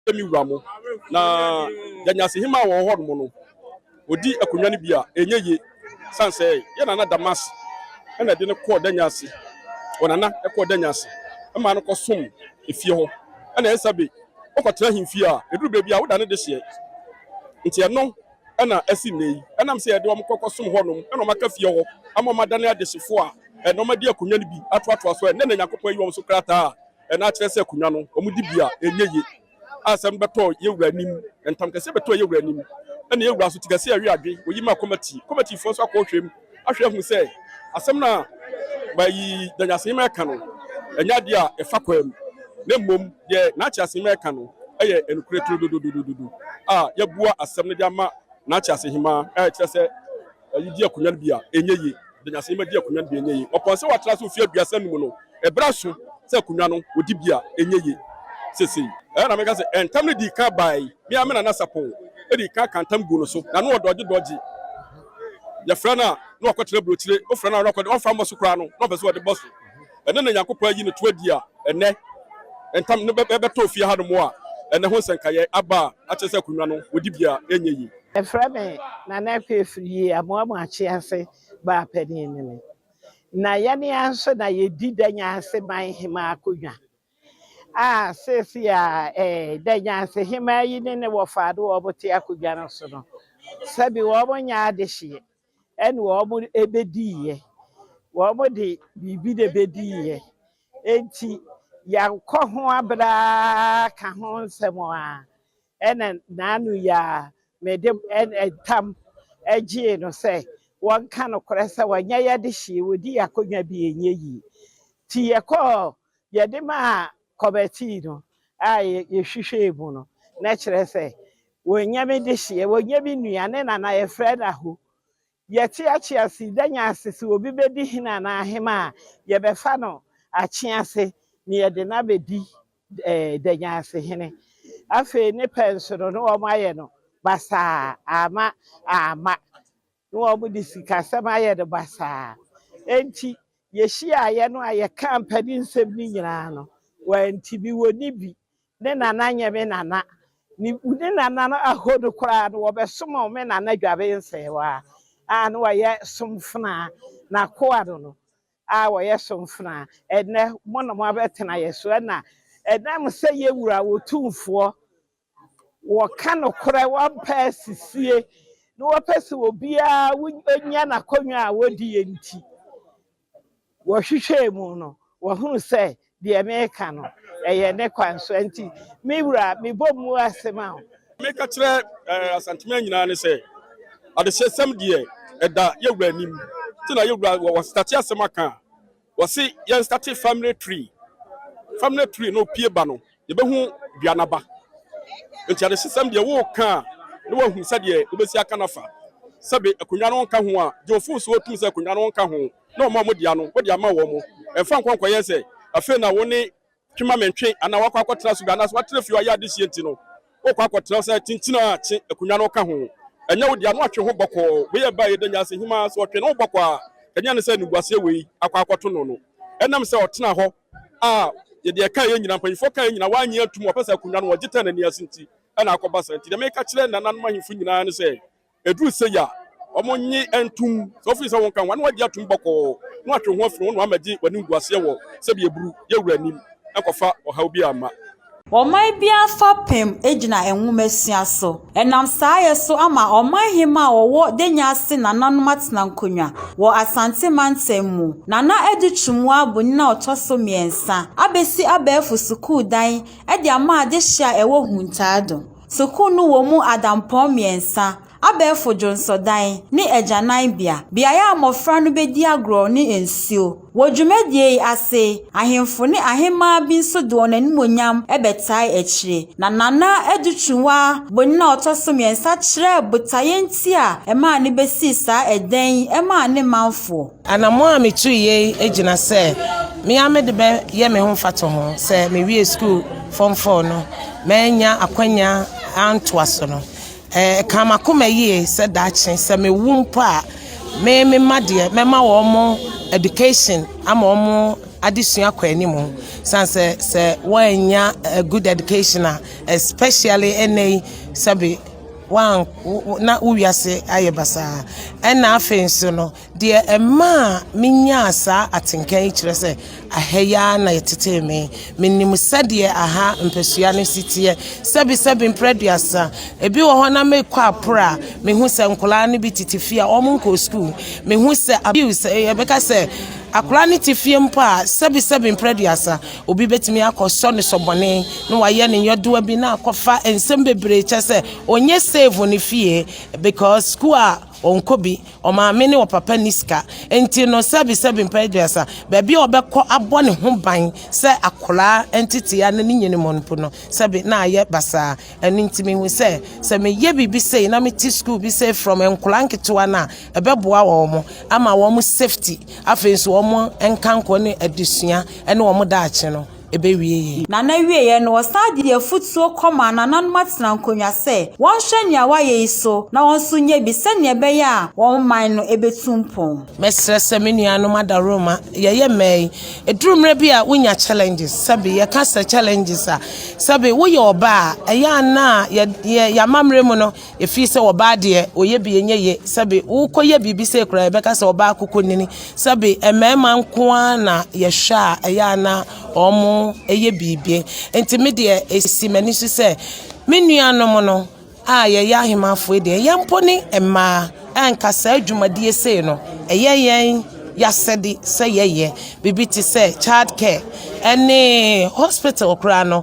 yɛ me wura mo, na deɛ nyansahima wɔ hɔ nom no, ɔdi akonnwa no bi a, ɛnyɛ yie. Sane sɛ yɛ nana Damas ɛna ɛde no kɔɔ danya ase, ɔnana ɛkɔɔ danya ase ɛma no kɔsom efie hɔ, ɛna ɛsa bi ɔkɔtena ahemfie a, ɛduru baabi a, woda ne de hyeɛ. Nti ɛno ɛna asi nnɛ yi, ɛnam sɛ yɛde wɔn kɔ kɔsom hɔ nom, ɛna wɔn aka fie hɔ ama wɔn adane adehyefoɔ a, ɛna wɔn adi akonnwa no bi atoatoa so a, ɛnnɛ na Nyankopɔn ayi wɔn so krataa a Ɛno akyerɛ sɛ akonnwa no wɔde bi a ɛnyɛ ye a asɛm bɛtɔ yɛn wura anim. Ntam kɛseɛ bɛtɔɔ yɛn wura anim ɛna yɛn wura nso te kɛseɛ ɛwe adwe. Wɔyi maa kɔmati. Kɔmatifoɔ nso akɔhwɛm ahwɛ ahu sɛ asɛm no a bayi Danny Aseyima ɛka no ɛnyɛ adeɛ a ɛfa kwam na mmom deɛ Naakye Aseyima ɛka no ɛyɛ nokorɛ turodododododo a yɛabua asɛm no de ama Naakye Aseyima a ɛkyerɛ sɛ Ɔde di akonnwa no bi a ɛnyɛ yie. Ɔdanyasani ma di akonnwa no bi a ɛnyɛ yie. Ɔpɔn sɛ watra ase mfe aduasa anum no, ɛberɛ aso sɛ akonnwa no ɔdi bi a ɛnyɛ yie seesei. Ɛhɔ na meka sɛ, Ntam no dii kan bae. Me ara me nana Sapon dii kan kaa ntam guu no so, na na ɔdɔɔgye dɔɔgye. Yɛfrɛ no a, na wakɔtena aburokyire. Wofrɛ no a, na wakɔ de, ɔmfa mmɔ so koraa no, na ɔpɛ sɛ ɔde bɔ so. ɛne nea Onyankopɔn ayi no to adi a ɛnnɛ ntam no bɛtoo fie hanom a ɛnnɛ ho nsɛnkaeɛ aba a akyerɛ sɛ akonnwa no wɔ dibea a ɛnyɛ yie. Yɛfrɛ me Nana Akwei afiri yei Amoamu Akyee ase baa panin ne me na yɛne ara nso na yɛdi Danyase man hemaa akonnwa a seesei a eh, Danyase hemaa yi ne ne wɔfaa ne wɔn te akonnwa no so no sɛbe wɔn nyɛ adehyeɛ. ɛne wɔbɛdiiɛ, wɔde biribi na ɛbɛdiiɛ, enti yɛakɔ ho abrɛ ara ka ho nsɛm a, ɛna naanu yi ara mede ntam gyee no sɛ wɔnka nokorɛ sɛ wɔnyɛ yɛn adehyee, wɔdi yɛn akonnwa bi ɛnyɛ yie. Nti yɛkɔɔ, yɛde maa kɔbɛtii no a yɛhwehwɛɛ mu no, na kyerɛ sɛ wɔnnya me dehyeɛ, wɔnnya me nua ne nana, yɛfrɛ no aho. Yɛte akyease da nya ase sɛ obi bɛdi hene anaa ahema a, yɛbɛfa no akyease na yɛde no abɛdi da nya ase hene. Afei ne pɛ nso no, na wɔayɛ no basaa, amma amma. ne wɔde sikasɛm ayɛ no basaa. Enti yehyiaeɛ no a yɛkaa mpaninsɛm no nyinaa no, wɔantumi. Wɔnni bi. Ne nana nyɛ me nana. Ne ne nana no ahɔ no koraa no, wɔbɛsom me nana Dwabensɛɛwa a na ɔyɛ somfenaa, n'akoa no no a ɔyɛ somfenaa. Ɛnnɛ, mo na moabɛtena yɛn so. Ɛnna ɛnam sɛ yɛn Wura Otumfoɔ Wɔka nokorɛ, wɔmpɛ asisie, na wɔpɛ sɛ obiara nya n'akonnwa a wɔdie nti, wɔhwehwɛɛ mu no, wɔhunu sɛ deɛ mereka no, ɛyɛ ne kwan so. Ɛnti, me wura, mebɔ mmu ase ma wo. Meka kyerɛ Asanteman nyinaa ne sɛ, adehyesɛm deɛ, ɛda yɛn wura anim. Nti na yɛn wura, wɔ wɔstate asɛm aka a, Wɔse yɛn starte family tree, family tree no pie ba no yɛbɛhu dua no aba. Nti adesesɛm deɛ woka a na wahu sɛdeɛ wobɛsi aka no afa. Sɛbe akonnwa no nka ho a, gye wo fon so wotum sɛ akonnwa no nka ho na wɔn a wɔde ano wode ama wɔn. Mfa nkɔ nkɔyɛ sɛ afei na wo ne Twema mentwe anaa woakɔ akɔtena asuda anaasɛ woatena fie hɔ ayɛ adehyeɛ nti no wokɔ akɔtena sɛ tintina a kye akonnwa no ka ho. Ɛnyɛ wo dea na watwe ho bɔkɔɔ. Wei yɛ baeɛ da nyinaa sɛ hemaa sɛ ɔtwe ne ho bɔkɔɔ a ɛnyɛ ne sɛ animguaseɛ wei akɔ akɔto no no. Ɛnam sɛ ɔtenaa hɔ a yɛde ɛkaeɛ nyinaa, mpanyimfoɔ kaeɛ nyinaa, wannye antom, ɔpɛ sɛ akonnwa no ɔgye tɛn n'ani ase nti na akɔba saa. Nti deɛ meka kyerɛ nananom ahemfo nyinaa ne sɛ, ɛduru sei a, wɔnnye ntom sɛ wofii sɛ wonka ho na wagye atom bɔkɔɔ na watwe ho afiri ho na wamɛgye w'animguaseɛ wɔ sɛdeɛ aburu yɛ wura anim ankɔfa ɔhaw bi amma. Ɔman biara fapem gyina nwomasua so. Ɛnam saayɛ so ama Ɔman Hemmaa a ɔwɔ Danya ase nananom atena nkonnwa wɔ Asante mantam mu. Nana Adu Twumua Bonyin a ɔtɔ so mmiɛnsa abɛsi abɛɛfo sukuu dan de ama adehye a ɛwɔ Huntaado. Sukuu no wɔ mu adampɔn mmiɛnsa, abɛɛfo dwonsɔdan, ne agyananbea, beae a mmofra no bedi agorɔ ne nsuo. Wɔ dwumadie yi ase, ahemfo ne ahemmaa bi nso de wɔn animuonyam bɛtae akyire, na Nana Adu Twunwaa bonin a ɔtɔ so mmiɛnsa kyerɛɛ botaeɛ nti a ɛmaa no bɛsii saa dan yi maa ne manfoɔ. Anammɔn a metuiɛ yi gyina sɛ me ara mede bɛyɛ me ho mfatoho sɛ mewie sukuu fam fɔɔ no manya akwanya antoa so no. Ɛka m'akoma yie sɛ daakye sɛ mewu mpo a me me mma deɛ mɛma wɔn education ama wɔn adesua kɔ anim sane sɛ sɛ wɔannya a good education a especially ɛnɛ yi sɛbe wɔn na wo wiase ayɛ basaa ɛna afei nso no Deɛ ɛmaa menyaa saa atenka yi kyerɛ sɛ aha yi ara na yɛtetee me. Menim sɛdeɛ aha mpasua no si teɛ, sɛbesɛbe mprɛ aduasa. Ebi wɔ hɔ na mekɔ aporo a, mehu sɛ nkwadaa no bi tete fie a wɔnkɔɔ sukuu. Mehu sɛ abuse, yɛbɛka sɛ akwadaa no te fie mpo a, sɛbesɛbe mprɛ aduasa, obi bɛtumi akɔsɔ no sɔ bɔne na wayɛ ne nyɔdoa bi na akɔfa nsɛm bebree kyɛ sɛ ɔnyɛ save ne fie because sukuu a Ɔnkɔ bi, ɔmaame ne ɔpapa nni sika nti no, sɛbesɛbe mpɛn aduasa, baabi a ɔbɛkɔ abɔ ne ho ban sɛ akwadaa ntetea no ne nyini mu mpo no, sɛbe na ayɛ basaa. Ɛno nti mehu sɛ, sɛ meyɛ biribi sei na mete sukuu bi sei from nkwadaa nketewa no a, ɛbɛboa wɔn ama wɔn safety, afei nso wɔn nkankɔ ne adesua ne wɔn daakye no. ɛbɛwie yɛn. Na n'awieeɛ no, wɔsan de afotuo kɔmaa nananom atenankonnwa sɛ wɔnhwɛ nea wɔayɛ yi so na wɔn nso nyɛ bi sɛnea ɛbɛyɛ a wɔn man no bɛtu mpɔn. Mɛsrɛ sɛ me nuanom adaworoma, yɛyɛ mmaa yi, ɛduru mmerɛ bi a wonya challenges, sɛbe yɛka sɛ challenges a, sɛbe woyɛ ɔbaa a, ɛyɛ a na yɛ, yɛ, yɛamammerɛ mu no, Ɛfiri sɛ ɔbaa deɛ ɔyɛ bi ɛnyɛ ye sɛbe wokɔyɛ biribi sɛ koraa yɛbɛka sɛ ɔbaa koko nini sɛbe mmarima nko ara na yɛhwɛ a ɛyɛ a na wɔn yɛ biribi nti me deɛ ɛsi m'ani so sɛ me nuanom no a yɛyɛ ahemafoɔ deɛ yɛn mpo ne mmaa ɛnka saa adwumadie sei no ɛyɛ yɛn yasɛde sɛ yɛyɛ biribi te sɛ child care ɛne hospital koraa no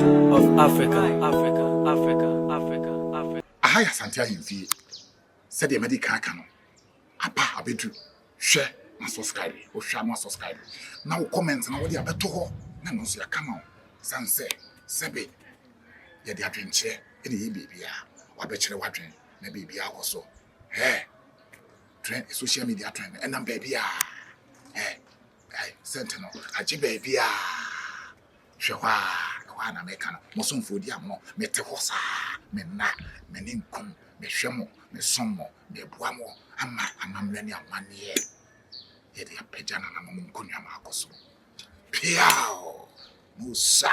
of Africa, Africa, Africa, Africa, Africa. Aha yɛ Asante ahemfie sɛdeɛ madi kan aka no aba abɛdu hwɛ ma subscribe wohwɛ ama subscribe na wo comment no wode abɛto hɔ na ɛno nso yɛaka ma wo sane sɛ sɛbe yɛde adwenkyerɛ ɛne yɛ biribiaa wabɛkyerɛ wadwen na biribiaa kɔ so hɛ trend social media trend ɛnam baabiaa hɛ Ai, sɛnte no, agye baabi a. Hwɛ hɔ a, ɛhɔ a na meka no, mo somfoɔ di amono, mete hɔ saa, me nna, me ninkunu, mehwɛ mo, mesom mo, meboa mo, ama amammerɛ ne amanneɛ yɛ de apagya nananom nkonnwa mu akɔ soro. Peaw! Musa!